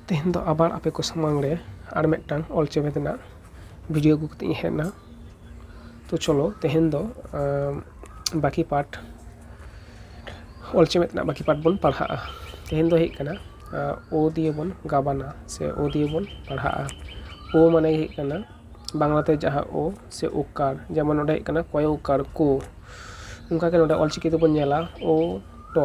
ᱛᱮᱦᱮᱧ ᱫᱚ ᱟᱵᱟᱨ ᱟᱯᱮ ᱠᱚ ᱥᱟᱢᱟᱝ ᱨᱮ ᱟᱨ ᱢᱤᱫᱴᱟᱝ ᱚᱞ ᱪᱮᱢᱮᱫ ᱨᱮᱱᱟᱜ ᱵᱷᱤᱰᱤᱭᱳ ᱟᱹᱜᱩ ᱠᱟᱛᱮ ᱤᱧ ᱦᱮᱡ ᱮᱱᱟ ᱛᱚ ᱪᱚᱞᱚ ᱛᱮᱦᱮᱧ ᱫᱚ ᱵᱟᱹᱠᱤ ᱯᱟᱴ ᱚᱞ ᱪᱮᱢᱮᱫ ᱨᱮᱱᱟᱜ ᱵᱟᱹᱠᱤ ᱯᱟᱴ ᱵᱚᱱ ᱯᱟᱲᱦᱟᱜᱼᱟ ᱛᱮᱦᱮᱧ ᱫᱚ ᱦᱮᱡ ᱠᱟᱱᱟ ᱳ ᱫᱤᱭᱮ ᱵᱚᱱ ᱜᱟᱵᱟᱱᱟ ᱥᱮ ᱳ ᱫᱤᱭᱮ ᱵᱚᱱ ᱯᱟᱲᱦᱟᱜᱼᱟ ᱳ ᱢᱟᱱᱮ ᱦᱮᱡ ᱠᱟᱱᱟ ᱵᱟᱝᱞᱟᱛᱮ ᱡᱟᱦᱟᱸ ᱳ ᱥᱮ ᱳᱠᱟᱨ ᱡᱮᱢᱚᱱ ᱱᱚᱸᱰᱮ ᱦᱮᱡ ᱠᱟᱱᱟ ᱠᱚᱭᱳᱠᱟᱨ ᱠᱳ ᱚᱱᱠᱟᱜᱮ ᱱᱚᱸᱰᱮ ᱚᱞ ᱪᱤᱠᱤ ᱛᱮᱵᱚᱱ ᱧᱮᱞᱟ ᱳ ᱴᱚ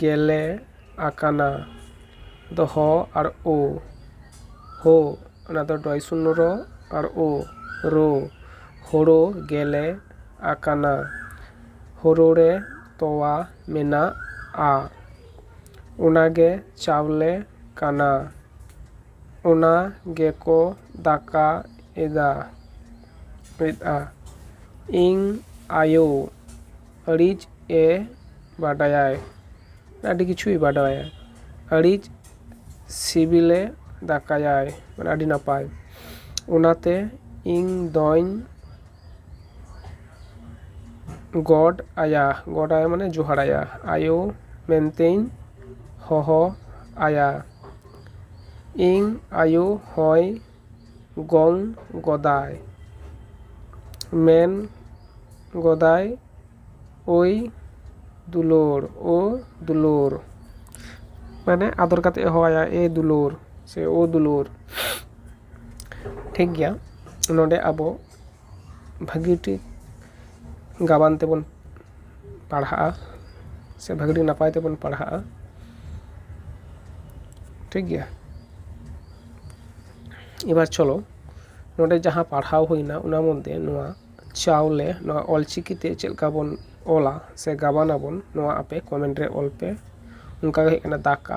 ᱜᱮᱞᱮ ᱟᱠᱟᱱᱟ ᱫᱚ ᱦᱚ ᱟᱨ ᱳ ᱦᱳ ᱚᱱᱟ ᱫᱚ ᱰᱚᱭ ᱥᱩᱱᱱᱚ ᱨᱚ ᱟᱨ ᱳ ᱨᱳ ᱦᱳᱲᱳ ᱜᱮᱞᱮ ᱟᱠᱟᱱᱟ ᱦᱳᱲᱳ ᱨᱮ ᱛᱚᱣᱟ ᱢᱮᱱᱟᱜᱼᱟ ᱚᱱᱟ ᱜᱮ ᱪᱟᱣᱞᱮ ᱠᱟᱱᱟ ᱚᱱᱟ ᱜᱮᱠᱚ ᱫᱟᱠᱟ ᱮᱫᱟ ᱮᱫᱼᱟ ᱤᱧ ᱟᱭᱳ ᱟᱹᱲᱤᱡ ᱮ ᱵᱟᱰᱟᱭᱟᱭ ᱟᱹᱰᱤ ᱠᱤᱪᱷᱩᱭ ᱵᱟᱰᱟᱭᱟ ᱟᱹᱲᱤᱡ ᱥᱤᱵᱤᱞᱮ ᱫᱟᱠᱟᱭᱟᱭ ᱢᱟᱱᱮ ᱟᱹᱰᱤ ᱱᱟᱯᱟᱭ ᱚᱱᱟᱛᱮ ᱤᱧ ᱫᱚᱧ ᱜᱚᱰ ᱟᱭᱟ ᱜᱚᱰ ᱟᱭᱟ ᱢᱟᱱᱮ ᱡᱚᱦᱟᱨ ᱟᱭᱟ ᱟᱭᱳ ᱢᱮᱱᱛᱮᱧ ᱦᱚᱦᱚ ᱟᱭᱟ ᱤᱧ ᱟᱭᱳ ᱦᱚᱸᱭ ᱜᱚᱝ ᱜᱚᱫᱟᱭ ᱢᱮᱱ ᱜᱚᱫᱟᱭ ᱳᱭ ᱫᱩᱞᱳᱲ ᱳ ᱫᱩᱞᱳᱲ ᱢᱟᱱᱮ ᱟᱫᱚᱨ ᱠᱟᱛᱮ ᱮ ᱦᱚᱦᱚᱣᱟᱭᱟ ᱮ ᱫᱩᱞᱳᱲ ᱥᱮ ᱳ ᱫᱩᱞᱳᱲ ᱴᱷᱤᱠ ᱜᱮᱭᱟ ᱱᱚᱰᱮ ᱟᱵᱚ ᱵᱷᱟᱹᱜᱤ ᱴᱷᱤᱠ ᱜᱟᱵᱟᱱ ᱛᱮᱵᱚᱱ ᱯᱟᱲᱦᱟᱜᱼᱟ ᱥᱮ ᱵᱷᱟᱹᱜᱤ ᱴᱷᱤᱠ ᱱᱟᱯᱟᱭ ᱛᱮᱵᱚᱱ ᱯᱟᱲᱦᱟᱜᱼᱟ ᱴᱷᱤᱠ ᱜᱮᱭᱟ ᱮᱵᱟᱨ ᱪᱚᱞᱚ ᱱᱚᱸᱰᱮ ᱡᱟᱦᱟᱸ ᱯᱟᱲᱦᱟᱣ ᱦᱩᱭᱱᱟ ᱚᱱᱟ ᱢᱚᱫᱽᱫᱷᱮ ᱱᱚᱣᱟ ᱪᱟᱣᱞᱮ ᱱᱚᱣᱟ ᱚᱞ ᱪᱤᱠᱤ ᱛᱮ ᱪᱮᱫ ᱞᱮᱠᱟ ᱵᱚᱱ ᱚᱞᱟ ᱥᱮ ᱜᱟᱵᱟᱱ ᱟᱵᱚᱱ ᱱᱚᱣᱟ ᱟᱯᱮ ᱠᱚᱢᱮᱱᱴ ᱨᱮ ᱚᱞ ᱯᱮ ᱚᱱᱠᱟ ᱜᱮ ᱦᱩᱭᱩᱜ ᱠᱟᱱᱟ ᱫᱟᱠᱟ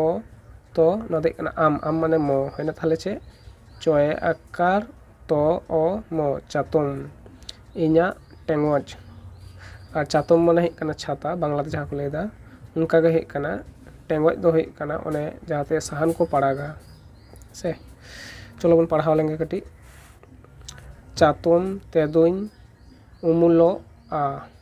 ᱚ ᱛ ᱱᱚᱣᱟ ᱫᱚ ᱦᱩᱭᱩᱜ ᱠᱟᱱᱟ ᱟᱢ ᱟᱢ ᱢᱟᱱᱮ ᱢᱚ ᱦᱩᱭᱱᱟ ᱛᱟᱦᱚᱞᱮ ᱪᱮᱫ ᱪᱚ ᱮ ᱟᱠᱟᱨ ᱛᱚ ᱚ ᱢᱚ ᱪᱟᱛᱚᱢ ᱤᱧᱟᱹᱜ ᱴᱮᱸᱜᱚᱡᱽ ᱟᱨ ᱪᱟᱛᱚᱢ ᱢᱟᱱᱮ ᱦᱩᱭᱩᱜ ᱠᱟᱱᱟ ᱪᱷᱟᱛᱟ ᱵᱟᱝᱞᱟ ᱛᱮ ᱡᱟᱦᱟᱸ ᱠᱚ ᱞᱟᱹᱭᱫᱟ ᱚᱱᱠᱟ ᱜᱮ ᱦᱩᱭᱩᱜ ᱠᱟᱱᱟ ᱴᱮᱸᱜᱚᱡᱽ ᱫᱚ ᱦᱩᱭᱩᱜ ᱠᱟᱱᱟ ᱚᱱᱮ ᱡᱟᱦᱟᱸ ᱛᱮ ᱥᱟᱦᱟᱱ ᱠᱚ ᱯᱟᱲᱟᱜᱟ ᱥᱮ ᱪᱚᱞᱚ ᱵᱚᱱ ᱯᱟᱲᱦᱟᱣ ᱞᱮᱱᱜᱮ ᱠᱟᱹᱴᱤᱡ ᱪᱟᱛᱚᱢ ᱛᱮᱫᱚᱧ ᱩᱢᱩᱞᱚᱜᱼᱟ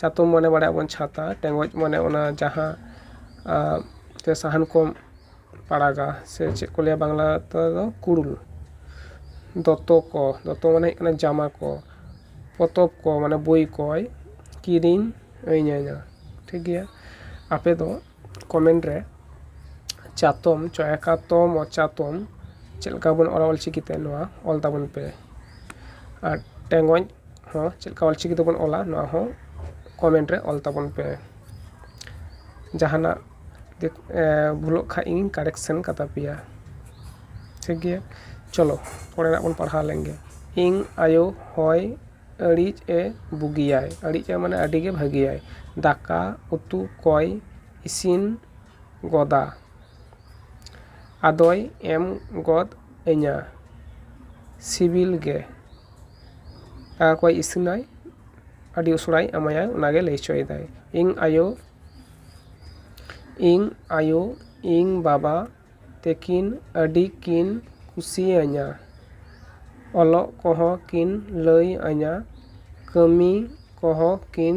ᱪᱟᱛᱚᱢ ᱢᱟᱱᱮ ᱵᱟᱲᱟᱭ ᱟᱵᱚᱱ ᱪᱷᱟᱛᱟ ᱴᱮᱸᱜᱚᱡ ᱢᱟᱱᱮ ᱚᱱᱟ ᱡᱟᱦᱟᱸ ᱛᱮ ᱥᱟᱦᱟᱱ ᱠᱚᱢ ᱯᱟᱲᱟᱜᱟ ᱥᱮ ᱪᱮᱫ ᱠᱚ ᱞᱟᱹᱭᱟ ᱵᱟᱝᱞᱟ ᱛᱮᱫᱚ ᱠᱩᱲᱩᱞ ᱫᱚᱛᱚ ᱠᱚ ᱫᱚᱛᱚ ᱢᱟᱱᱮ ᱦᱩᱭᱩᱜ ᱠᱟᱱᱟ ᱡᱟᱢᱟ ᱠᱚ ᱯᱚᱛᱚᱵ ᱠᱚ ᱢᱟᱱᱮ ᱵᱳᱭ ᱠᱚᱭ ᱠᱤᱨᱤᱧ ᱟᱹᱧᱟᱹᱧᱟ ᱴᱷᱤᱠ ᱜᱮᱭᱟ ᱟᱯᱮ ᱫᱚ ᱠᱚᱢᱮᱱᱴ ᱨᱮ ᱪᱟᱛᱚᱢ ᱪᱚᱭᱟᱠᱟᱛᱚᱢ ᱚᱪᱟᱛᱚᱢ ᱪᱮᱫ ᱞᱮᱠᱟ ᱵᱚᱱ ᱚᱞᱟ ᱚᱞᱪᱤᱠᱤ ᱛᱮ ᱱᱚᱣᱟ ᱚᱞ ᱛᱟᱵᱚᱱ ᱯᱮ ᱟᱨ ᱴᱮᱸᱜᱚᱡ ᱦᱚᱸ ᱪᱮᱫ ᱞᱮᱠᱟ ᱚᱞ ᱪᱤᱠᱤ ᱛᱮᱵᱚᱱ ᱚᱞᱟ ᱱᱚᱣᱟ ᱦᱚᱸ ᱠᱚᱢᱮᱱᱴ ᱨᱮ ᱚᱞ ᱛᱟᱵᱚᱱ ᱯᱮ ᱡᱟᱦᱟᱱᱟᱜ ᱵᱷᱩᱞᱚᱜ ᱠᱷᱟᱱ ᱤᱧ ᱠᱟᱨᱮᱠᱥᱮᱱ ᱠᱟᱛᱟ ᱯᱮᱭᱟ ᱴᱷᱤᱠ ᱜᱮᱭᱟ ᱪᱚᱞᱚ ᱯᱚᱨᱮᱱᱟᱜ ᱵᱚᱱ ᱯᱟᱲᱦᱟᱣ ᱞᱮᱱ ᱜᱮ ᱤᱧ ᱟᱭᱳ ᱦᱚᱭ ᱟᱹᱬᱤᱡ ᱮ ᱵᱩᱜᱤᱭᱟᱭ ᱟᱹᱬᱤᱡ ᱮ ᱢᱟᱱᱮ ᱟᱹᱰᱤ ᱜᱮ ᱵᱷᱟᱹᱜᱤᱭᱟᱭ ᱫᱟᱠᱟ ᱩᱛᱩ ᱠᱚᱭ ᱤᱥᱤᱱ ᱜᱚᱫᱟ ᱟᱫᱚᱭ ᱮᱢ ᱜᱚᱫ ᱟᱹᱧᱟᱹ ᱥᱤᱵᱤᱞ ᱜᱮ ᱫᱟᱠᱟ ᱠᱚᱭ ᱤᱥᱤᱱᱟᱭ ᱟᱹᱰᱤ ᱩᱥᱟᱹᱨᱟᱭ ᱮᱢᱟᱭᱟᱭ ᱚᱱᱟ ᱜᱮ ᱞᱟᱹᱭ ᱦᱚᱪᱚᱭᱮᱫᱟᱭ ᱤᱧ ᱟᱭᱳ ᱤᱧ ᱟᱭᱳ ᱤᱧ ᱵᱟᱵᱟ ᱛᱟᱹᱠᱤᱱ ᱟᱹᱰᱤ ᱠᱤᱱ ᱠᱩᱥᱤᱭᱟᱹᱧᱟᱹ ᱚᱞᱚᱜ ᱠᱚᱦᱚᱸ ᱠᱤᱱ ᱞᱟᱹᱭ ᱟᱹᱧᱟᱹ ᱠᱟᱹᱢᱤ ᱠᱚᱦᱚᱸ ᱠᱤᱱ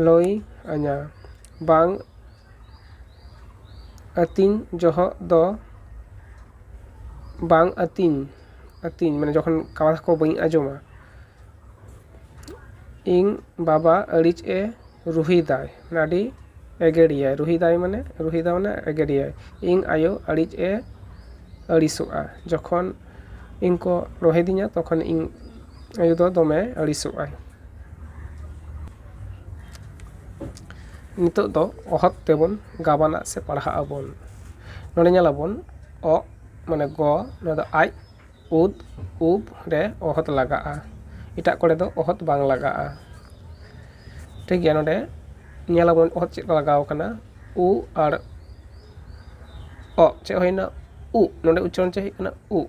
ᱞᱟᱹᱭ ᱟᱹᱧᱟᱹ ᱵᱟᱝ ᱟᱹᱛᱤᱧ ᱡᱚᱦᱚᱜ ᱫᱚ ᱵᱟᱝ ᱟᱹᱛᱤᱧ ᱟᱹᱛᱤᱧ ᱢᱟᱱᱮ ᱡᱚᱠᱷᱚᱱ ᱠᱟᱛᱷᱟ ᱠᱚ ᱵᱟᱹᱧ ᱟᱸᱡᱚᱢᱟ ᱤᱧ ᱵᱟᱵᱟ ᱟᱹᱲᱤᱥ ᱮ ᱨᱩᱦᱤᱫᱟᱭ ᱢᱟᱱᱮ ᱟᱹᱰᱤ ᱮᱜᱮᱨᱤᱭᱟᱭ ᱨᱩᱦᱤᱫᱟᱭ ᱢᱟᱱᱮ ᱨᱩᱦᱤᱫᱟ ᱢᱟᱱᱮ ᱮᱜᱮᱨᱤᱭᱟᱭ ᱤᱧ ᱟᱭᱳ ᱟᱹᱲᱤᱥ ᱮ ᱟᱹᱲᱤᱥᱚᱜᱼᱟ ᱡᱚᱠᱷᱚᱱ ᱤᱧ ᱠᱚ ᱨᱳᱦᱮᱫᱤᱧᱟ ᱛᱚᱠᱷᱚᱱ ᱤᱧ ᱟᱭᱳ ᱫᱚ ᱫᱚᱢᱮ ᱟᱹᱲᱤᱥᱚᱜ ᱟᱭ ᱱᱤᱛᱚᱜ ᱫᱚ ᱚᱦᱚᱫ ᱛᱮᱵᱚᱱ ᱜᱟᱵᱟᱱᱟ ᱥᱮ ᱯᱟᱲᱦᱟᱜ ᱟᱵᱚᱱ ᱱᱚᱰᱮ ᱧᱮᱞ ᱟᱵᱚᱱ ᱚ ᱢᱟᱱᱮ ᱜᱚ ᱱᱚᱣᱟ ᱫᱚ ᱟᱡ ᱩᱫ ᱩᱵ ᱨᱮ ᱚᱦᱚᱫ ᱞᱟᱜᱟᱜᱼᱟ ᱮᱴᱟᱜ ᱠᱚᱨᱮ ᱫᱚ ᱚᱦᱚᱫ ᱵᱟᱝ ᱞᱟᱜᱟᱜᱼᱟ ᱴᱷᱤᱠ ᱜᱮᱭᱟ ᱱᱚᱰᱮ ᱧᱮᱞ ᱟᱵᱚᱱ ᱚᱦᱚᱫ ᱪᱮᱫ ᱠᱚ ᱞᱟᱜᱟᱣ ᱠᱟᱱᱟ ᱩ ᱟᱨ ᱚ ᱪᱮᱫ ᱦᱩᱭᱱᱟ ᱩᱜ ᱱᱚᱰᱮ ᱩᱪᱪᱟᱨᱚᱱ ᱪᱮᱫ ᱦᱩᱭᱩᱜ ᱠᱟᱱᱟ ᱩᱜ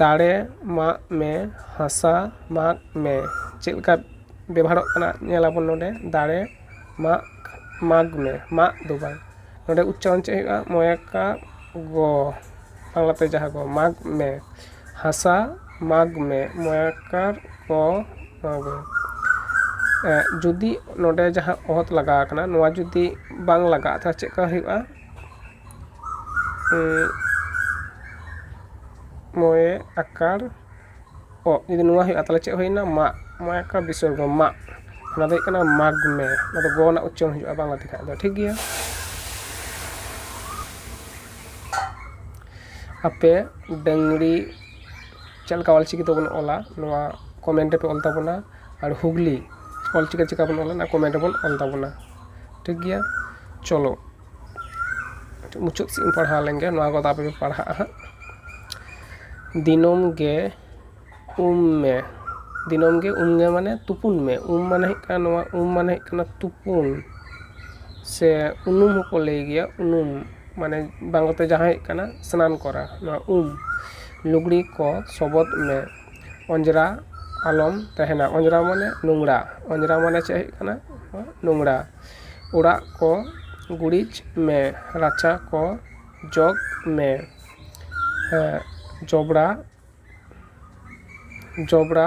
ᱫᱟᱲᱮ ᱢᱟᱜ ᱢᱮ ᱦᱟᱥᱟ ᱢᱟᱜ ᱢᱮ ᱪᱮᱫ ᱞᱮᱠᱟ ᱵᱮᱵᱚᱦᱟᱨᱚᱜ ᱠᱟᱱᱟ ᱧᱮᱞ ᱟᱵᱚᱱ ᱱᱚᱰᱮ ᱫᱟᱨᱮ ᱢᱟᱜ ᱢᱟᱜᱽ ᱢᱮ ᱢᱟᱜ ᱫᱚ ᱵᱟᱝ ᱱᱚᱰᱮ ᱩᱪᱪᱟᱨᱚᱱ ᱪᱮᱫ ᱦᱩᱭᱩᱜᱼᱟ ᱢᱚᱭᱟ ᱠᱟ ᱜᱚ ᱵᱟᱝᱞᱟ ᱛᱮ ᱡᱟᱦᱟᱸ ᱜᱚ ᱢᱟᱜᱽ ᱢᱮ ᱦᱟᱥᱟ ᱢᱟᱜᱽ ᱢᱮ ᱢᱚᱭᱟ ᱠᱟ ᱜᱚ ᱢᱟᱜᱽ ᱢᱮ ᱡᱩᱫᱤ ᱱᱚᱰᱮ ᱡᱟᱦᱟᱸ ᱚᱛ ᱞᱟᱜᱟᱣ ᱠᱟᱱᱟ ᱱᱚᱣᱟ ᱡᱩᱫᱤ ᱵᱟᱝ ᱞᱟᱜᱟᱜᱼᱟ ᱛᱟᱦᱚᱞᱮ ᱪᱮᱫ ᱞᱮᱠᱟ ᱦᱩᱭᱩᱜᱼᱟ ᱢᱚᱬᱮ ᱟᱠᱟᱨ ᱚ ᱡᱩᱫᱤ ᱱᱚᱣᱟ ᱦᱩᱭᱩᱜᱼᱟ ᱛᱟᱦᱚᱞᱮ ᱪᱮᱫ ᱦᱩᱭᱱᱟ ᱢᱟᱜ ᱢᱚᱬᱮ ᱟᱠᱷᱟᱨ ᱵᱤᱥᱚᱨᱜᱚ ᱢᱟᱜ ᱚᱱᱟ ᱫᱚ ᱦᱩᱭᱩᱜ ᱠᱟᱱᱟ ᱢᱟᱜᱽ ᱢᱮ ᱚᱱᱟ ᱫᱚ ᱜᱚ ᱨᱮᱱᱟᱜ ᱩᱪᱪᱟᱨᱚᱱ ᱦᱩᱭᱩᱜᱼᱟ ᱵᱟᱝᱞᱟ ᱛᱮᱠᱷᱟᱱ ᱫᱚ ᱴᱷᱤᱠ ᱜᱮᱭᱟ ᱟᱯᱮ ᱰᱟᱹᱝᱨᱤ ᱪᱮᱫ ᱞᱮᱠᱟ ᱚᱞ ᱪᱤᱠᱤ ᱛᱮᱵᱚᱱ ᱚᱞᱟ ᱱᱚᱣᱟ ᱠᱚᱢᱮᱱᱴ ᱨᱮᱯᱮ ᱚᱞ ᱛᱟᱵᱚᱱᱟ ᱟᱨ ᱦᱩᱜᱽᱞᱤ ᱚᱞ ᱪᱤᱠᱤ ᱪᱤᱠᱟᱹ ᱵᱚᱱ ᱚᱞᱟ ᱚᱱᱟ ᱠᱚᱢᱮᱱᱴ ᱨᱮᱵᱚᱱ ᱚᱞ ᱛᱟᱵᱚᱱᱟ ᱴᱷᱤᱠ ᱜᱮᱭᱟ ᱪᱚᱞᱚ ᱢᱩᱪᱟᱹᱫ ᱥᱮᱫ ᱤᱧ ᱯᱟᱲᱦᱟᱣ ᱞᱮᱱᱜᱮ ᱱᱚᱣᱟ ᱠᱚᱫᱚ ᱟᱯᱮ ᱯᱮ ᱯᱟᱲᱦᱟᱜᱼᱟ ᱦᱟᱸᱜ ᱫᱤᱱᱟᱹᱢ ᱜᱮ ᱩᱢ ᱢᱮ ᱫᱤᱱᱟᱹᱢ ᱜᱮ ᱩᱢ ᱢᱮ ᱢᱟᱱᱮ ᱛᱩᱯᱩᱱ ᱢᱮ ᱩᱢ ᱢᱟᱱᱮ ᱦᱩᱭᱩᱜ ᱠᱟᱱᱟ ᱱᱚᱣᱟ ᱩᱢ ᱢᱟᱱᱮ ᱦᱩᱭᱩᱜ ᱠᱟᱱᱟ ᱛᱩᱯᱩᱱ ᱥᱮ ᱩᱱᱩᱢ ᱦᱚᱸᱠᱚ ᱞᱟᱹᱭ ᱜᱮᱭᱟ ᱩᱱᱩᱢ ᱢᱟᱱᱮ ᱵᱟᱝᱞᱟᱛᱮ ᱡᱟᱦᱟᱸ ᱦᱩᱭᱩᱜ ᱠᱟᱱᱟ ᱥᱱᱟᱱ ᱠᱚᱨᱟ ᱱᱚᱣᱟ ᱩᱢ ᱞᱩᱜᱽᱲᱤ ᱠᱚ ᱥᱚᱵᱚᱫ ᱢᱮ ᱚᱸᱡᱽᱨᱟ ᱟᱞᱚᱢ ᱛᱟᱦᱮᱱᱟ ᱚᱸᱡᱽᱨᱟ ᱢᱟᱱᱮ ᱱᱳᱝᱨᱟ ᱚᱸᱡᱽᱨᱟ ᱢᱟᱱᱮ ᱪᱮᱫ ᱦᱩᱭᱩᱜ ᱠᱟᱱᱟ ᱱᱳᱝᱨᱟ ᱚᱲᱟᱜ ᱠᱚ ᱜᱩᱨᱤᱡᱽ ᱢᱮ ᱨᱟᱪᱟ ᱠᱚ ᱡᱚᱜᱽ ᱢᱮ ᱡᱚᱵᱽᱨᱟ ᱡᱚᱵᱽᱨᱟ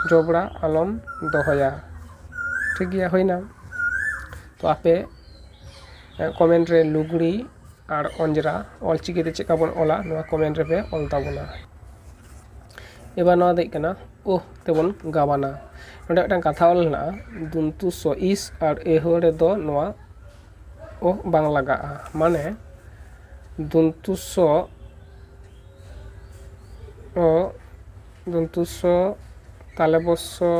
ᱡᱚᱵᱽᱨᱟ ᱟᱞᱚᱢ ᱫᱚᱦᱚᱭᱟ ᱴᱷᱤᱠ ᱜᱮᱭᱟ ᱦᱩᱭᱱᱟ ᱛᱚ ᱟᱯᱮ ᱠᱚᱢᱮᱱᱴ ᱨᱮ ᱞᱩᱜᱽᱲᱤ ᱟᱨ ᱚᱸᱡᱽᱨᱟ ᱚᱞ ᱪᱤᱠᱤ ᱛᱮ ᱪᱮᱫᱠᱟ ᱵᱚᱱ ᱚᱞᱟ ᱱᱚᱣᱟ ᱠᱚᱢᱮᱱᱴ ᱨᱮᱯᱮ ᱚᱞ ᱛᱟᱵᱚᱱᱟ ᱮᱵᱟᱨ ᱱᱚᱣᱟ ᱫᱚ ᱦᱩᱭᱩᱜ ᱠᱟᱱᱟ ᱳᱦ ᱛᱮᱵᱚᱱ ᱜᱟᱵᱟᱱᱟ ᱱᱚᱰᱮ ᱢᱤᱫᱴᱟᱱ ᱠᱟᱛᱷᱟ ᱚᱞ ᱢᱮᱱᱟᱜᱼᱟ ᱫᱩᱱᱛᱩ ᱥᱚ ᱤᱥ ᱟᱨ ᱮᱦᱳ ᱨᱮᱫᱚ ᱱᱚᱣᱟ ᱳᱦ ᱵᱟᱝ ᱞᱟᱜᱟᱜᱼᱟ ᱢᱟᱱᱮ ᱫᱩᱱᱛᱩ ᱥᱚ ᱚ ᱫᱚᱱᱛᱩ ᱥᱚ ᱛᱟᱞᱮᱵᱚ ᱥᱚ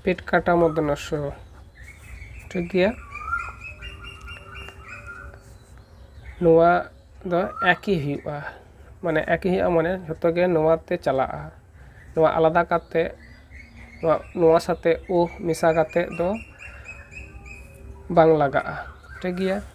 ᱯᱮᱴ ᱠᱟᱴᱟ ᱢᱚᱫᱱᱚ ᱥᱚ ᱴᱷᱤᱠ ᱜᱮᱭᱟ ᱱᱚᱣᱟ ᱫᱚ ᱮᱠᱤ ᱦᱩᱭᱩᱜᱼᱟ ᱢᱟᱱᱮ ᱮᱠᱤ ᱦᱩᱭᱩᱜᱼᱟ ᱢᱟᱱᱮ ᱡᱷᱚᱛᱚ ᱜᱮ ᱱᱚᱣᱟ ᱛᱮ ᱪᱟᱞᱟᱜᱼᱟ ᱱᱚᱣᱟ ᱟᱞᱟᱫᱟ ᱠᱟᱛᱮ ᱱᱚᱣᱟ ᱱᱚᱣᱟ ᱥᱟᱛᱮ ᱳᱦ ᱢᱮᱥᱟ ᱠᱟᱛᱮ ᱫᱚ ᱵᱟᱝ ᱞᱟᱜᱟᱜᱼᱟ ᱴᱷᱤᱠ ᱜᱮᱭᱟ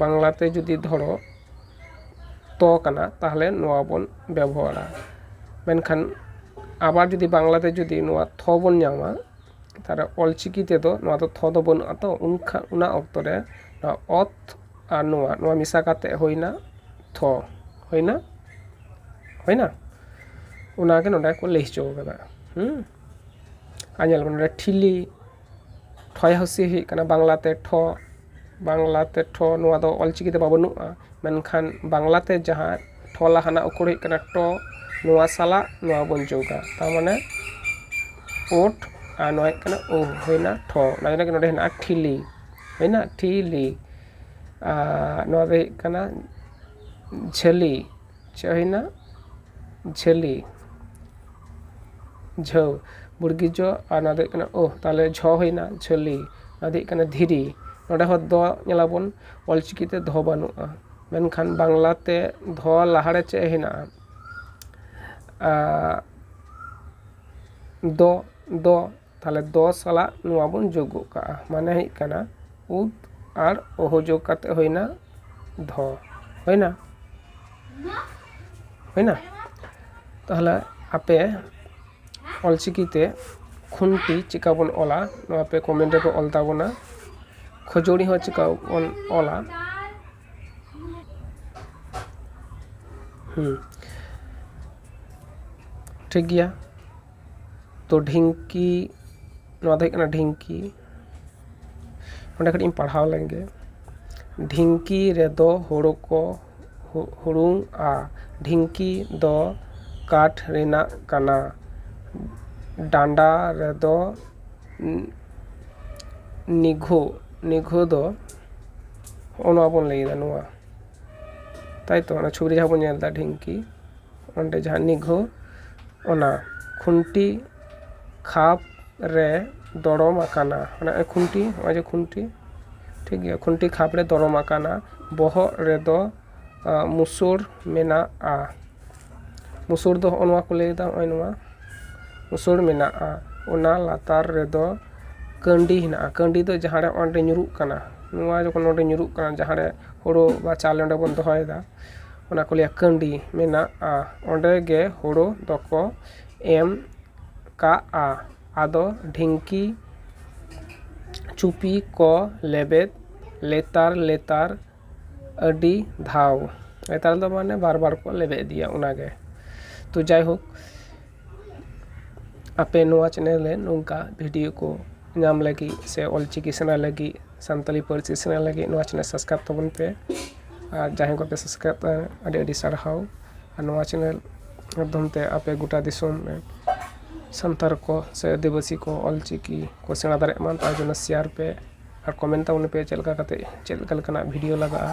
ᱵᱟᱝᱞᱟᱛᱮ ᱡᱩᱫᱤ ᱫᱷᱚᱲᱚ ᱛᱚ ᱠᱟᱱᱟ ᱛᱟᱦᱚᱞᱮ ᱱᱚᱣᱟ ᱵᱚᱱ ᱵᱮᱵᱚᱦᱟᱨᱟ ᱢᱮᱱᱠᱷᱟᱱ ᱟᱵᱟᱨ ᱡᱩᱫᱤ ᱵᱟᱝᱞᱟᱛᱮ ᱡᱩᱫᱤ ᱱᱚᱣᱟ ᱛᱷᱚ ᱵᱚᱱ ᱧᱟᱢᱟ ᱛᱟᱦᱚᱞᱮ ᱚᱞ ᱪᱤᱠᱤ ᱛᱮᱫᱚ ᱱᱚᱣᱟ ᱫᱚ ᱛᱷᱚ ᱫᱚ ᱵᱟᱹᱱᱩᱜᱼᱟ ᱛᱚ ᱩᱱᱠᱷᱟᱱ ᱚᱱᱟ ᱚᱠᱛᱚ ᱨᱮ ᱱᱚᱣᱟ ᱚᱛ ᱟᱨ ᱱᱚᱣᱟ ᱱᱚᱣᱟ ᱢᱮᱥᱟ ᱠᱟᱛᱮᱫ ᱦᱩᱭᱮᱱᱟ ᱛᱷᱚ ᱦᱩᱭᱮᱱᱟ ᱦᱩᱭᱮᱱᱟ ᱚᱱᱟᱜᱮ ᱱᱚᱸᱰᱮ ᱠᱚ ᱞᱟᱹᱭ ᱦᱚᱪᱚᱣ ᱠᱟᱫᱟ ᱟᱨ ᱧᱮᱞ ᱵᱮᱱ ᱱᱚᱸᱰᱮ ᱴᱷᱤᱞᱤ ᱴᱷᱚᱭ ᱦᱩᱥᱤ ᱦᱩᱭᱩᱜ ᱠᱟᱱᱟ ᱵᱟᱝᱞᱟ ᱛᱮ ᱴᱷᱚ ᱵᱟᱝᱞᱟ ᱛᱮ ᱴᱷᱚ ᱱᱚᱣᱟ ᱫᱚ ᱚᱞ ᱪᱤᱠᱤ ᱛᱮᱢᱟ ᱵᱟᱹᱱᱩᱜᱼᱟ ᱢᱮᱱᱠᱷᱟᱱ ᱵᱟᱝᱞᱟ ᱛᱮ ᱡᱟᱦᱟᱸ ᱴᱷᱚ ᱞᱟᱦᱟᱱᱟᱜ ᱚᱠᱠᱷᱚᱨ ᱦᱩᱭᱩᱜ ᱠᱟᱱᱟ ᱴᱚ ᱱᱚᱣᱟ ᱥᱟᱞᱟᱜ ᱱᱚᱣᱟ ᱵᱚᱱ ᱡᱳᱜᱟ ᱛᱟᱨ ᱢᱟᱱᱮ ᱳᱴ ᱟᱨ ᱱᱚᱣᱟ ᱦᱩᱭᱩᱜ ᱠᱟᱱᱟ ᱳ ᱦᱩᱭᱱᱟ ᱴᱷᱚ ᱚᱱᱟ ᱡᱟᱭᱜᱟ ᱨᱮ ᱱᱚᱸᱰᱮ ᱦᱮᱱᱟᱜᱼᱟ ᱴᱷᱤᱞᱤ ᱦᱩᱭᱱᱟ ᱴᱷᱤᱼᱞᱤ ᱟᱨ ᱱᱚᱣᱟ ᱫᱚ ᱦᱩᱭᱩᱜ ᱠᱟᱱᱟ ᱡᱷᱟᱹᱞᱤ ᱪᱮᱫ ᱦᱩᱭᱱᱟ ᱡᱷᱟᱹᱞᱤ ᱡᱷᱟᱹᱣ ᱵᱩᱲᱜᱤ ᱡᱚ ᱟᱨ ᱱᱚᱣᱟ ᱫᱚ ᱦᱩᱭᱩᱜ ᱠᱟᱱᱟ ᱳᱦ ᱛᱟᱦᱚᱞᱮ ᱡᱷᱚ ᱦᱩᱭᱱᱟ ᱡᱷᱟᱹᱞᱤ ᱱᱚᱣᱟ ᱫᱚ ᱦᱩᱭᱩᱜ ᱠᱟᱱᱟ ᱫᱷᱤᱨᱤ ᱱᱚᱸᱰᱮ ᱦᱚᱸ ᱫᱚ ᱧᱮᱞᱟᱵᱚᱱ ᱚᱞ ᱪᱤᱠᱤ ᱛᱮ ᱫᱷᱚ ᱵᱟᱹᱱᱩᱜᱼᱟ ᱢᱮᱱᱠᱷᱟᱱ ᱵᱟᱝᱞᱟ ᱛᱮ ᱫᱷᱚ ᱞᱟᱦᱟ ᱨᱮ ᱪᱮᱫ ᱦᱮᱱᱟᱜᱼᱟ ᱫᱚ ᱫᱚ ᱛᱟᱦᱚᱞᱮ ᱫᱚ ᱥᱟᱞᱟᱜ ᱱᱚᱣᱟ ᱵᱚᱱ ᱡᱳᱜᱽ ᱜᱚᱫ ᱠᱟᱜᱼᱟ ᱢᱟᱱᱮ ᱦᱩᱭᱩᱜ ᱠᱟᱱᱟ ᱩᱫ ᱟᱨ ᱚᱦᱚ ᱡᱳᱜᱽ ᱠᱟᱛᱮᱫ ᱦᱩᱭᱱᱟ ᱫᱷᱚ ᱦᱩᱭᱱᱟ ᱦᱩᱭᱱᱟ ᱛᱟᱦᱚᱞᱮ ᱟᱯᱮ ᱚᱞ ᱪᱤᱠᱤ ᱛᱮ ᱠᱷᱩᱱᱴᱤ ᱪᱤᱠᱟᱹ ᱵᱚᱱ ᱚᱞᱟ ᱱᱚᱣᱟ ᱯᱮ ᱠᱚᱢᱮᱱᱴ ᱨᱮᱯᱮ ᱚᱞ ᱛᱟᱵᱚᱱᱟ ᱠᱷᱟᱹᱡᱟᱹᱲᱤ ᱦᱚᱸ ᱪᱤᱠᱟᱹ ᱵᱚᱱ ᱚᱞᱟ ᱦᱮᱸ ᱴᱷᱤᱠ ᱜᱮᱭᱟ ᱛᱚ ᱰᱷᱤᱝᱠᱤ ᱱᱚᱣᱟ ᱫᱚ ᱦᱩᱭᱩᱜ ᱠᱟᱱᱟ ᱰᱷᱤᱝᱠᱤ ᱚᱸᱰᱮ ᱠᱟᱹᱴᱤᱡ ᱤᱧ ᱯᱟᱲᱦᱟᱣ ᱞᱮᱱᱜᱮ ᱰᱷᱤᱝᱠᱤ ᱨᱮᱫᱚ ᱦᱳᱲᱳ ᱠᱚ ᱦᱩᱲᱩᱝᱼᱟ ᱰᱷᱤᱝᱠᱤ ᱫᱚ ᱠᱟᱴᱷ ᱨᱮᱱᱟᱜ ᱠᱟᱱᱟ ᱰᱟᱸᱰᱟ ᱨᱮᱫᱚ ᱱᱤᱜᱷᱳ ᱱᱤᱜᱷᱳ ᱫᱚ ᱦᱚᱸᱜᱼᱚ ᱱᱚᱣᱟ ᱵᱚᱱ ᱞᱟᱹᱭᱫᱟ ᱱᱚᱣᱟ ᱛᱟᱭᱛᱚ ᱚᱱᱟ ᱪᱷᱚᱵᱤ ᱨᱮ ᱡᱟᱦᱟᱸ ᱵᱚᱱ ᱧᱮᱞᱫᱟ ᱰᱷᱤᱝᱠᱤ ᱚᱸᱰᱮ ᱡᱟᱦᱟᱸ ᱱᱤᱜᱷᱳ ᱚᱱᱟ ᱠᱷᱩᱱᱴᱤ ᱠᱷᱟᱯ ᱨᱮ ᱫᱚᱲᱚᱢ ᱟᱠᱟᱱᱟ ᱚᱱᱟ ᱠᱷᱩᱱᱴᱤ ᱱᱚᱜᱼᱚᱭ ᱡᱮ ᱠᱷᱩᱱᱴᱤ ᱴᱷᱤᱠ ᱜᱮᱭᱟ ᱠᱷᱩᱱᱴᱤ ᱠᱷᱟᱯ ᱨᱮ ᱫᱚᱲᱚᱢ ᱟᱠᱟᱱᱟ ᱵᱚᱦᱚᱜ ᱨᱮᱫᱚ ᱢᱩᱥᱩᱲ ᱢᱮᱱᱟᱜᱼᱟ ᱢᱩᱥᱩᱲ ᱫᱚ ᱦᱚᱸᱜᱼᱚ ᱱᱚᱣᱟ ᱠᱚ ᱞᱟᱹᱭᱫᱟ ᱦᱚᱸᱜᱼᱚᱭ ᱱᱚᱣᱟ ᱢᱩᱥᱩᱲ ᱢᱮᱱᱟᱜᱼᱟ ᱚᱱᱟ ᱞᱟᱛᱟᱨ ᱨᱮᱫᱚ ᱠᱟᱺᱰᱤ ᱦᱮᱱᱟᱜᱼᱟ ᱠᱟᱺᱰᱤ ᱫᱚ ᱡᱟᱦᱟᱸ ᱨᱮ ᱚᱸᱰᱮ ᱧᱩᱨᱩᱜ ᱠᱟᱱᱟ ᱱᱚᱣᱟ ᱡᱚᱠᱷᱚᱱ ᱱᱚᱸᱰᱮ ᱧᱩᱨᱩᱜ ᱠᱟᱱᱟ ᱡᱟᱦᱟᱸ ᱨᱮ ᱦᱳᱲᱳ ᱵᱟ ᱪᱟᱣᱞᱮ ᱚᱸᱰᱮ ᱵᱚᱱ ᱫᱚᱦᱚᱭᱫᱟ ᱚᱱᱟ ᱠᱚ ᱞᱟᱹᱭᱟ ᱠᱟᱺᱰᱤ ᱢᱮᱱᱟᱜᱼᱟ ᱚᱸᱰᱮ ᱜᱮ ᱦᱳᱲᱳ ᱫᱚᱠᱚ ᱮᱢ ᱠᱟᱜᱼᱟ ᱟᱫᱚ ᱰᱷᱤᱝᱠᱤ ᱪᱩᱯᱤ ᱠᱚ ᱞᱮᱵᱮᱫ ᱞᱮᱛᱟᱲ ᱞᱮᱛᱟᱲ ᱟᱹᱰᱤ ᱫᱷᱟᱣ ᱞᱮᱛᱟᱲ ᱫᱚ ᱢᱟᱱᱮ ᱵᱟᱨ ᱵᱟᱨ ᱠᱚ ᱞᱮᱵᱮᱫ ᱤᱫᱤᱭᱟ ᱚᱱᱟ ᱜᱮ ᱛᱚ ᱡᱟᱭᱦᱳᱠ ᱟᱯᱮ ᱱᱚᱣᱟ ᱪᱮᱱᱮᱞ ᱨᱮ ᱱᱚᱝᱠᱟ ᱵᱷᱤᱰᱤᱭᱳ ᱠᱚ ᱧᱟᱢ ᱞᱟᱹᱜᱤᱫ ᱥᱮ ᱚᱞ ᱪᱤᱠᱤ ᱥᱮᱬᱟ ᱞᱟᱹᱜᱤᱫ ᱥᱟᱱᱛᱟᱲᱤ ᱯᱟᱹᱨᱥᱤ ᱥᱮᱬᱟ ᱞᱟᱹᱜᱤᱫ ᱱᱚᱣᱟ ᱪᱮᱱᱮᱞ ᱥᱟᱵᱥᱠᱨᱟᱭᱤᱵᱽ ᱛᱟᱵᱚᱱ ᱯᱮ ᱟᱨ ᱡᱟᱦᱟᱸᱭ ᱠᱚᱯᱮ ᱥᱟᱵᱥᱠᱨᱟᱭᱤᱵᱽ ᱠᱟᱜᱼᱟ ᱟᱹᱰᱤ ᱟᱹᱰᱤ ᱥᱟᱨᱦᱟᱣ ᱟᱨ ᱱᱚᱣᱟ ᱪᱮᱱᱮᱞ ᱢᱟᱫᱽᱫᱷᱚᱢ ᱛᱮ ᱟᱯᱮ ᱜᱚᱴᱟ ᱫᱤᱥᱚᱢ ᱨᱮ ᱥᱟᱱᱛᱟᱲ ᱠᱚ ᱥᱮ ᱟᱹᱫᱤᱵᱟᱹᱥᱤ ᱠᱚ ᱚᱞ ᱪᱤᱠᱤ ᱠᱚ ᱥᱮᱬᱟ ᱫᱟᱲᱮᱭᱟᱜ ᱢᱟ ᱛᱟᱨ ᱡᱚᱱᱱᱚ ᱥᱮᱭᱟᱨ ᱯᱮ ᱟᱨ ᱠᱚᱢᱮᱱᱴ ᱛᱟᱵᱚᱱ ᱯᱮ ᱪᱮᱫ ᱞᱮᱠᱟ ᱠᱟᱛᱮᱫ ᱪᱮᱫ ᱞᱮᱠᱟ ᱞᱮᱠᱟᱱᱟᱜ ᱵᱷᱤᱰᱤᱭᱳ ᱞᱟᱜᱟᱜᱼᱟ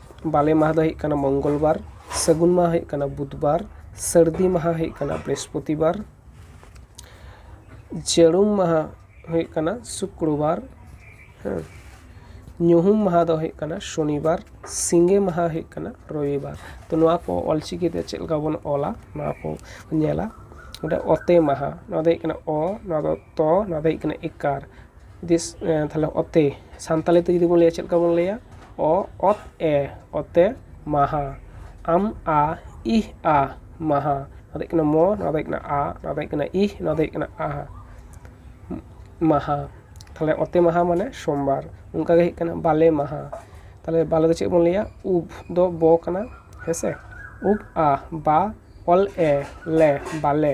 ᱵᱟᱞᱮ ᱢᱟᱦᱟ ᱫᱚ ᱦᱩᱭᱩᱜ ᱠᱟᱱᱟ ᱢᱚᱝᱜᱚᱞ ᱵᱟᱨ ᱥᱟᱹᱜᱩᱱ ᱢᱟᱦᱟ ᱦᱩᱭᱩᱜ ᱠᱟᱱᱟ ᱵᱩᱫᱷ ᱵᱟᱨ ᱥᱟᱹᱨᱫᱤ ᱢᱟᱦᱟ ᱦᱩᱭᱩᱜ ᱠᱟᱱᱟ ᱵᱨᱤᱦᱚᱥᱯᱚᱛᱤ ᱵᱟᱨ ᱡᱟᱹᱲᱩᱢ ᱢᱟᱦᱟ ᱦᱩᱭᱩᱜ ᱠᱟᱱᱟ ᱥᱩᱠᱨᱚ ᱵᱟᱨ ᱦᱮᱸ ᱧᱩᱦᱩᱢ ᱢᱟᱦᱟ ᱫᱚ ᱦᱩᱭᱩᱜ ᱠᱟᱱᱟ ᱥᱚᱱᱤ ᱵᱟᱨ ᱥᱤᱸᱜᱮ ᱢᱟᱦᱟ ᱦᱩᱭᱩᱜ ᱠᱟᱱᱟ ᱨᱚᱵᱤ ᱵᱟᱨ ᱛᱚ ᱱᱚᱣᱟ ᱠᱚ ᱚᱞ ᱪᱤᱠᱤ ᱛᱮ ᱪᱮᱫ ᱞᱮᱠᱟ ᱵᱚᱱ ᱚᱞᱟ ᱱᱚᱣᱟ ᱠᱚ ᱧᱮᱞᱟ ᱚᱸᱰᱮ ᱚᱛᱮ ᱢᱟᱦᱟ ᱱᱚᱣᱟ ᱫᱚ ᱦᱩᱭᱩᱜ ᱠᱟᱱᱟ ᱚ ᱱᱚᱣᱟ ᱫᱚ ᱛᱚ ᱱᱚᱣᱟ ᱫᱚ ᱦᱩᱭᱩᱜ ᱠᱟᱱᱟ ᱮᱠᱟᱨ ᱫᱤᱥ ᱛᱟᱦᱚᱞᱮ ᱚᱛᱮ ᱥᱟᱱᱛᱟᱲᱤ ᱛᱮ ᱡᱩᱫᱤ ᱵᱚᱱ ᱞᱟᱹᱭᱟ ᱪᱮᱫ ᱞᱮᱠᱟ ᱵᱚᱱ ᱞᱟᱹᱭᱟ ᱚ ᱛ ᱮ ᱚᱛᱮ ᱢᱟᱦᱟ ᱟᱢ ᱟ ᱤ ᱟ ᱢᱟᱦᱟ ᱱᱚᱣᱟ ᱫᱚ ᱦᱩᱭᱩᱜ ᱠᱟᱱᱟ ᱢᱚ ᱱᱚᱣᱟ ᱫᱚ ᱦᱩᱭᱩᱜ ᱠᱟᱱᱟ ᱟ ᱱᱚᱣᱟ ᱫᱚ ᱦᱩᱭᱩᱜ ᱠᱟᱱᱟ ᱤ ᱱᱚᱣᱟ ᱫᱚ ᱦᱩᱭᱩᱜ ᱠᱟᱱᱟ ᱟ ᱢᱟᱦᱟ ᱛᱟᱦᱚᱞᱮ ᱚᱛᱮ ᱢᱟᱦᱟ ᱢᱟᱱᱮ ᱥᱳᱢᱵᱟᱨ ᱚᱱᱠᱟ ᱜᱮ ᱦᱩᱭᱩᱜ ᱠᱟᱱᱟ ᱵᱟᱞᱮ ᱢᱟᱦᱟ ᱛᱟᱦᱚᱞᱮ ᱵᱟᱞᱮ ᱫᱚ ᱪᱮᱫ ᱵᱚᱱ ᱞᱟᱹᱭᱟ ᱩᱵ ᱫᱚ ᱵᱚ ᱠᱟᱱᱟ ᱦᱮᱸᱥᱮ ᱩᱵ ᱟ ᱵᱟ ᱚᱞ ᱮ ᱞᱮ ᱵᱟᱞᱮ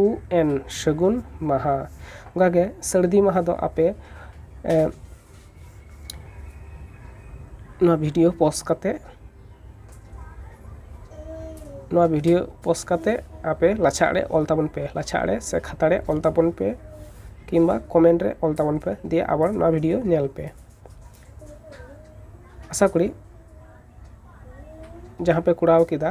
ᱩᱢ ᱮᱱ ᱥᱟᱹᱜᱩᱱ ᱢᱟᱦᱟ ᱚᱱᱠᱟ ᱜᱮ ᱥᱟᱹᱨᱫᱤ ᱢᱟᱦᱟ ᱫᱚ ᱟᱯᱮ ᱱᱚᱣᱟ ᱵᱷᱤᱰᱤᱭᱳ ᱯᱳᱥᱴ ᱠᱟᱛᱮ ᱱᱚᱣᱟ ᱵᱷᱤᱰᱤᱭᱳ ᱯᱳᱥᱴ ᱠᱟᱛᱮ ᱟᱯᱮ ᱞᱟᱪᱷᱟᱜ ᱨᱮ ᱚᱞ ᱛᱟᱵᱚᱱ ᱯᱮ ᱞᱟᱪᱷᱟᱜ ᱨᱮ ᱥᱮ ᱠᱷᱟᱛᱟ ᱨᱮ ᱚᱞ ᱛᱟᱵᱚᱱ ᱯᱮ ᱠᱤᱢᱵᱟ ᱠᱚᱢᱮᱱᱴ ᱨᱮ ᱚᱞ ᱛᱟᱵᱚᱱ ᱯᱮ ᱫᱤᱭᱮ ᱟᱵᱟᱨ ᱱᱚᱣᱟ ᱵᱷᱤᱰᱤᱭᱳ ᱧᱮᱞ ᱯᱮ ᱟᱥᱟ ᱠᱚᱨᱤ ᱡᱟᱦᱟᱸ ᱯᱮ ᱠᱚᱨᱟᱣ ᱠᱮᱫᱟ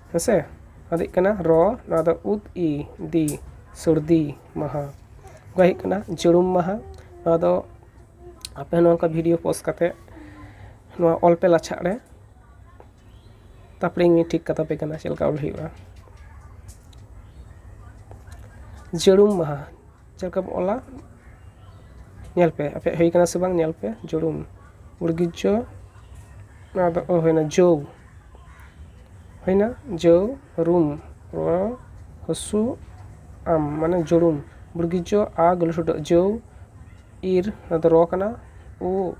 ᱦᱮᱸᱥᱮ ᱱᱚᱣᱟ ᱫᱚ ᱦᱩᱭᱩᱜ ᱠᱟᱱᱟ ᱨᱚ ᱱᱚᱣᱟ ᱫᱚ ᱩᱫ ᱤ ᱫᱤ ᱥᱚᱨᱫᱤ ᱢᱟᱦᱟ ᱚᱠᱟ ᱦᱩᱭᱩᱜ ᱠᱟᱱᱟ ᱡᱟᱹᱨᱩᱢ ᱢᱟᱦᱟ ᱱᱚᱣᱟ ᱫᱚ ᱟᱯᱮ ᱦᱚᱸ ᱱᱚᱝᱠᱟ ᱵᱷᱤᱰᱤᱭᱳ ᱯᱳᱥᱴ ᱠᱟᱛᱮᱫ ᱱᱚᱣᱟ ᱚᱞ ᱯᱮ ᱞᱟᱪᱷᱟᱜ ᱨᱮ ᱛᱟᱨᱯᱚᱨᱮ ᱤᱧ ᱴᱷᱤᱠ ᱠᱟᱛᱟ ᱯᱮ ᱠᱟᱱᱟ ᱪᱮᱫ ᱞᱮᱠᱟ ᱚᱞ ᱦᱩᱭᱩᱜᱼᱟ ᱡᱟᱹᱨᱩᱢ ᱢᱟᱦᱟ ᱪᱮᱫ ᱞᱮᱠᱟᱢ ᱚᱞᱟ ᱧᱮᱞ ᱯᱮ ᱟᱯᱮᱭᱟᱜ ᱦᱩᱭ ᱠᱟᱱᱟ ᱥᱮ ᱵᱟᱝ ᱧᱮᱞ ᱯᱮ ᱡᱩᱲᱩᱢ ᱩᱲᱜᱤ ᱡᱚ ᱱᱚᱣᱟ ᱫᱚ ᱚ ᱦᱩᱭᱱᱟ ᱡᱳ ᱦᱩᱭᱱᱟ ᱡᱳ ᱨᱩᱢ ᱨᱚ ᱦᱟᱹᱥᱩ ᱟᱢ ᱢᱟᱱᱮ ᱡᱩᱲᱩᱢ ᱵᱩᱲᱜᱤ ᱡᱚ ᱟ ᱜᱩᱞᱩ ᱴᱩᱰᱟᱹᱜ ᱡᱳ ᱤᱨ ᱱᱚᱣᱟ ᱫᱚ ᱨᱚ ᱠᱟᱱᱟ ᱩ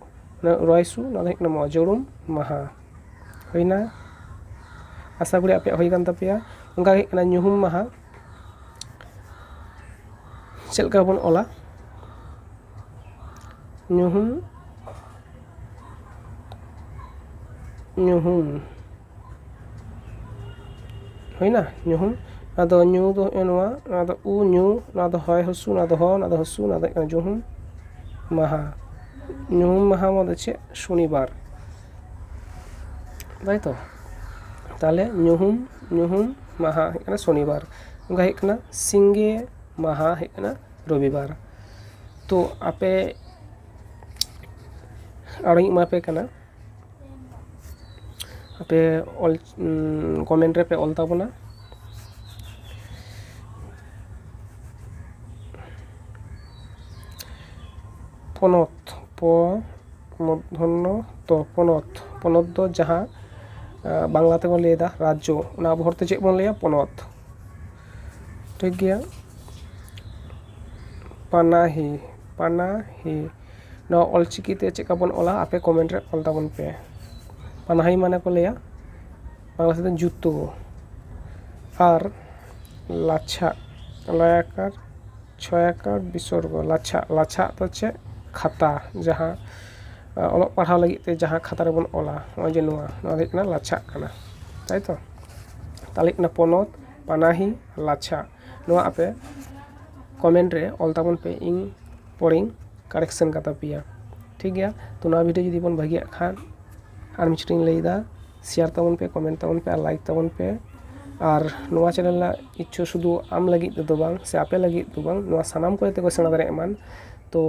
ᱨᱚᱭ ᱥᱩ ᱱᱚᱣᱟ ᱫᱚ ᱦᱩᱭᱩᱜ ᱠᱟᱱᱟ ᱢᱚ ᱡᱩᱲᱩᱢ ᱢᱟᱦᱟ ᱦᱩᱭᱱᱟ ᱟᱥᱟ ᱠᱚᱨᱤ ᱟᱯᱮᱭᱟᱜ ᱦᱩᱭ ᱠᱟᱱ ᱛᱟᱯᱮᱭᱟ ᱚᱱᱠᱟ ᱜᱮ ᱦᱩᱭᱩᱜ ᱠᱟᱱᱟ ᱧᱩᱦᱩᱢ ᱢᱟᱦᱟ ᱪᱮᱫ ᱞᱮᱠᱟ ᱵᱚᱱ ᱚᱞᱟ ᱧᱩᱦᱩᱢ ᱧᱩᱦᱩᱢ ᱦᱩᱭᱱᱟ ᱧᱩᱦᱩᱢ ᱟᱫᱚ ᱧᱩ ᱫᱚ ᱦᱩᱭᱩᱜᱼᱟ ᱱᱚᱣᱟ ᱱᱚᱣᱟ ᱫᱚ ᱩ ᱧᱩ ᱱᱚᱣᱟ ᱫᱚ ᱦᱚᱭ ᱦᱟᱹᱥᱩ ᱱᱚᱣᱟ ᱫᱚ ᱦᱚ ᱱᱚᱣᱟ ᱫᱚ ᱦᱟᱹᱥᱩ ᱱᱚᱣᱟ ᱫᱚ ᱦᱩᱭᱩᱜ ᱠᱟᱱᱟ ᱧᱩᱦᱩᱢ ᱢᱟᱦᱟ ᱧᱩᱦᱩᱢ ᱢᱟᱦᱟ ᱢᱟᱱᱮ ᱪᱮᱫ ᱥᱚᱱᱤᱵᱟᱨ ᱛᱟᱭᱛᱚ ᱛᱟᱦᱚᱞᱮ ᱧᱩᱦᱩᱢ ᱧᱩᱦᱩᱢ ᱢᱟᱦᱟ ᱦᱩᱭᱩᱜ ᱠᱟᱱᱟ ᱥᱚᱱᱤᱵᱟᱨ ᱚᱱᱠᱟ ᱦᱩᱭᱩᱜ ᱠᱟᱱᱟ ᱥᱤᱸᱜᱮ ᱢᱟᱦᱟ ᱦᱩᱭᱩᱜ ᱠᱟᱱᱟ ᱨᱚᱵᱤᱵᱟᱨ ᱛᱚ ᱟᱯᱮ ᱟᱨᱚᱧ ᱮᱢᱟ ᱯᱮ ᱠᱟᱱᱟ ᱟᱯᱮ ᱚᱞ ᱠᱚᱢᱮᱱᱴ ᱨᱮᱯᱮ ᱚᱞ ᱛᱟᱵᱚᱱᱟ ᱯᱚᱱᱚᱛ ᱯᱚᱱᱚᱛ ᱯᱚᱱᱚᱛ ᱯᱚᱱᱚᱛ ᱫᱚ ᱡᱟᱦᱟᱸ ᱵᱟᱝᱞᱟ ᱛᱮᱵᱚᱱ ᱞᱟᱹᱭᱫᱟ ᱨᱟᱡᱽᱡᱚ ᱚᱱᱟ ᱟᱵᱚ ᱦᱚᱲᱛᱮ ᱪᱮᱫ ᱵᱚᱱ ᱞᱟᱹᱭᱟ ᱯᱚᱱᱚᱛ ᱴᱷᱤᱠ ᱜᱮᱭᱟ ᱯᱟᱱᱟᱦᱤ ᱯᱟᱱᱟᱦᱤ ᱱᱚᱣᱟ ᱚᱞ ᱪᱤᱠᱤ ᱛᱮ ᱪᱮᱫᱠᱟ ᱵᱚᱱ ᱚᱞᱟ ᱟᱯᱮ ᱠᱚᱢᱮᱱᱴ ᱨᱮ ᱚᱞ ᱛᱟᱵᱚᱱ ᱯᱮ ᱯᱟᱱᱟᱦᱤ ᱢᱟᱱᱮ ᱠᱚ ᱞᱟᱹᱭᱟ ᱵᱟᱝᱞᱟ ᱛᱮᱫᱚ ᱡᱩᱛᱳ ᱟᱨ ᱞᱟᱪᱷᱟ ᱞᱟᱭᱟᱠᱟᱨ ᱪᱷᱚᱭᱟᱠᱟᱨ ᱵᱤᱥᱚᱨᱜᱚ ᱞᱟᱪᱷᱟᱜ ᱞᱟᱪᱷᱟᱜ ᱫᱚ ᱪᱮᱫ ᱠᱷᱟᱛᱟ ᱡᱟᱦᱟᱸ ᱚᱞᱚᱜ ᱯᱟᱲᱦᱟᱣ ᱞᱟᱹᱜᱤᱫ ᱛᱮ ᱡᱟᱦᱟᱸ ᱠᱷᱟᱛᱟ ᱨᱮᱵᱚᱱ ᱚᱞᱟ ᱱᱚᱜᱼᱚᱭ ᱡᱮ ᱱᱚᱣᱟ ᱱᱚᱣᱟ ᱫᱚ ᱦᱩᱭᱩᱜ ᱠᱟᱱᱟ ᱞᱟᱪᱷᱟᱜ ᱠᱟᱱᱟ ᱛᱟᱭ ᱛᱚ ᱛᱟᱦᱚᱞᱮ ᱦᱩᱭᱩᱜ ᱠᱟᱱᱟ ᱯᱚᱱᱚᱛ ᱯᱟᱱᱟᱦᱤ ᱞᱟᱪᱷᱟᱜ ᱱᱚᱣᱟ ᱟᱯᱮ ᱠᱚᱢᱮᱱᱴ ᱨᱮ ᱚᱞ ᱛᱟᱵᱚᱱ ᱯᱮ ᱤᱧ ᱯᱚᱨᱮᱧ ᱠᱟᱨᱮᱠᱥᱮᱱ ᱠᱟᱛᱟ ᱯᱮᱭᱟ ᱴᱷᱤᱠ ᱜᱮᱭᱟ ᱛᱚ ᱱᱚᱣᱟ ᱵᱷᱤᱰᱭᱳ ᱡᱩᱫᱤ ᱵᱚᱱ ᱵᱷᱟᱹᱜᱤᱭᱟᱜ ᱠᱷᱟᱱ ᱟᱨ ᱢᱤᱫ ᱪᱷᱚᱴᱤᱧ ᱞᱟᱹᱭᱫᱟ ᱥᱮᱭᱟᱨ ᱛᱟᱵᱚᱱ ᱯᱮ ᱠᱚᱢᱮᱱᱴ ᱛᱟᱵᱚᱱ ᱯᱮ ᱟᱨ ᱞᱟᱭᱤᱠ ᱛᱟᱵᱚᱱ ᱯᱮ ᱟᱨ ᱱᱚᱣᱟ ᱪᱮᱱᱮᱞ ᱨᱮᱱᱟᱜ ᱠᱤᱪᱷᱩ ᱥᱩᱫᱩ ᱟᱢ ᱞᱟᱹᱜᱤᱫ ᱛᱮᱫᱚ ᱵᱟᱝ ᱥᱮ ᱟᱯᱮ ᱞᱟᱹᱜᱤᱫ ᱫᱚ ᱵᱟᱝ ᱱᱚᱣᱟ ᱥᱟᱱᱟᱢ ᱠᱚ ᱡᱟᱛᱮ ᱠᱚ ᱥᱮᱬᱟ ᱫᱟᱲᱮᱭᱟᱜ ᱢᱟ ᱛᱚ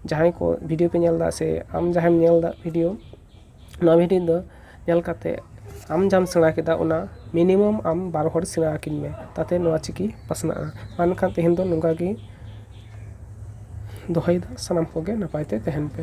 ᱡᱟᱦᱟᱸᱭ ᱠᱚ ᱵᱷᱤᱰᱭᱳ ᱯᱮ ᱧᱮᱞ ᱮᱫᱟ ᱥᱮ ᱟᱢ ᱡᱟᱦᱟᱸᱭᱮᱢ ᱧᱮᱞ ᱮᱫᱟ ᱵᱷᱤᱰᱭᱳ ᱱᱚᱣᱟ ᱵᱷᱤᱰᱭᱳ ᱫᱚ ᱧᱮᱞ ᱠᱟᱛᱮ ᱟᱢ ᱡᱟᱦᱟᱸᱢ ᱥᱮᱬᱟ ᱠᱮᱫᱟ ᱚᱱᱟ ᱢᱤᱱᱤᱢᱟᱢ ᱟᱢ ᱵᱟᱨ ᱦᱚᱲ ᱥᱮᱬᱟ ᱟᱹᱠᱤᱱ ᱢᱮ ᱛᱟᱛᱮ ᱱᱚᱣᱟ ᱪᱤᱠᱤ ᱯᱟᱥᱱᱟᱜᱼᱟ ᱢᱟ ᱮᱱᱠᱷᱟᱱ ᱛᱮᱦᱮᱧ ᱫᱚ ᱱᱚᱝᱠᱟ ᱜᱮ ᱫᱚᱦᱚᱭᱮᱫᱟ ᱥᱟᱱᱟᱢ ᱠᱚᱜᱮ ᱱᱟᱯᱟᱭ ᱛᱮ ᱛᱟᱦᱮᱱ ᱯᱮ